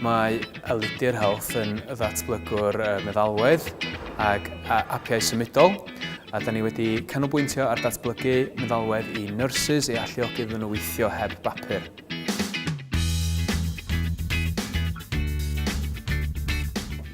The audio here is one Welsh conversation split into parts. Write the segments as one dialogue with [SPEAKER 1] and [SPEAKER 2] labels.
[SPEAKER 1] Mae Elidir Health yn ddatblygwr meddalwedd ac apiau symudol, a da ni wedi canolbwyntio ar datblygu meddalwedd i nurses i alluogi iddyn nhw weithio heb bapur.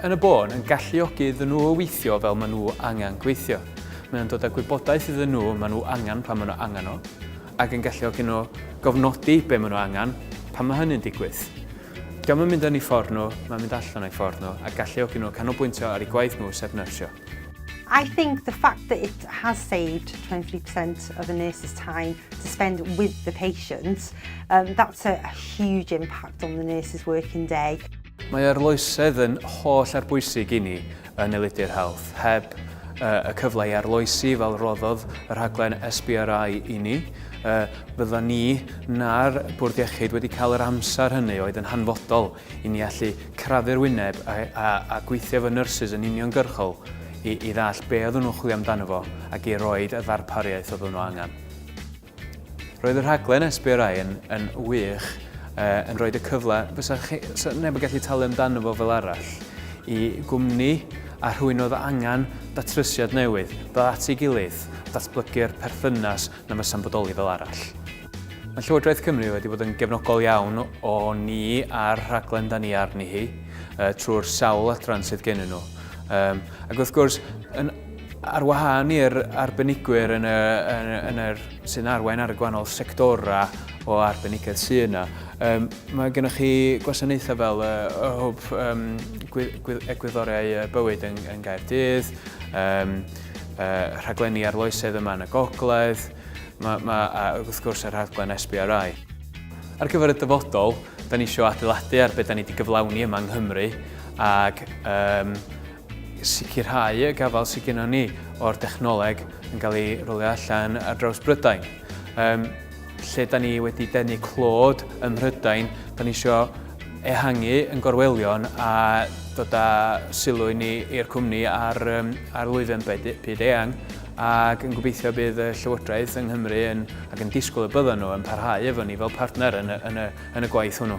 [SPEAKER 1] yn y bôn yn galluogi iddyn nhw o weithio fel maen nhw angen gweithio. Mae o'n dod â gwybodaeth iddyn nhw maen nhw angen pan maen nhw angen o, ac yn galluogi nhw gofnodi be maen nhw angen pan mae hynny'n digwydd. Diolch yn mynd yn ei ffordd nhw, mae'n mynd allan o'i ffordd nhw a galluogi nhw canolbwyntio ar ei gwaith nhw sef nyrsio. I think
[SPEAKER 2] the fact that it has saved 23% of the nurse's time to spend with the patient, um, that's a, a huge impact on the nurse's working day. Mae arloesedd
[SPEAKER 1] yn holl arbwysig i ni yn Elidir Health. Heb y cyfle i arloesi fel roddodd y rhaglen SBRI i ni, fydda ni na'r Bwrdd Iechyd wedi cael yr amser hynny oedd yn hanfodol i ni allu crafu'r wyneb a, a, a gweithio efo nurses yn uniongyrchol i, i ddall be oedden nhw'n chwilio amdano fo ac i roed y ddarpariaeth oedden nhw angen. Roedd y rhaglen SBRI yn, yn wych, uh, yn rhoi y cyfle, fysa chi, so neb yn gallu talu amdano fo fel arall, i gwmni a rhywun oedd angen datrysiad newydd, ddod at ei gilydd, datblygu'r perthynas na fysa'n bodoli fel arall. Mae Llywodraeth Cymru wedi bod yn gefnogol iawn o ni a'r rhaglen da ni arni hi uh, trwy'r sawl adran sydd gen nhw. Um, ac wrth gwrs, yn Ar wahân i'r arbenigwyr yn y, yn, yn yr, sy'n arwain ar y gwahanol sectorau o arbenigedd sy'n yna, um, mae gennych chi gwasanaethau fel uh, y hwb um, egwyddoriau bywyd yn, yn Gaerdydd, um, uh, rhaglenni arloesedd yma yn y gogledd, mae, mae, a wrth gwrs y rhaglen SBRI. Ar gyfer y dyfodol, da ni eisiau adeiladu ar beth da ni wedi gyflawni yma yng Nghymru ac um, sicrhau y gafael sydd gennym ni o'r dechnoleg yn cael ei rolio allan ar draws Brydain. Um, lle da ni wedi denu clod ym Mhrydain, da ni eisiau ehangu yn gorwelion a dod â sylw i ni i'r cwmni ar, um, ar lwyfan byd eang ac yn gobeithio bydd y Llywodraeth yng Nghymru yn, ac yn disgwyl y byddwn nhw yn parhau efo ni fel partner yn y, yn y, yn y gwaith hwnnw.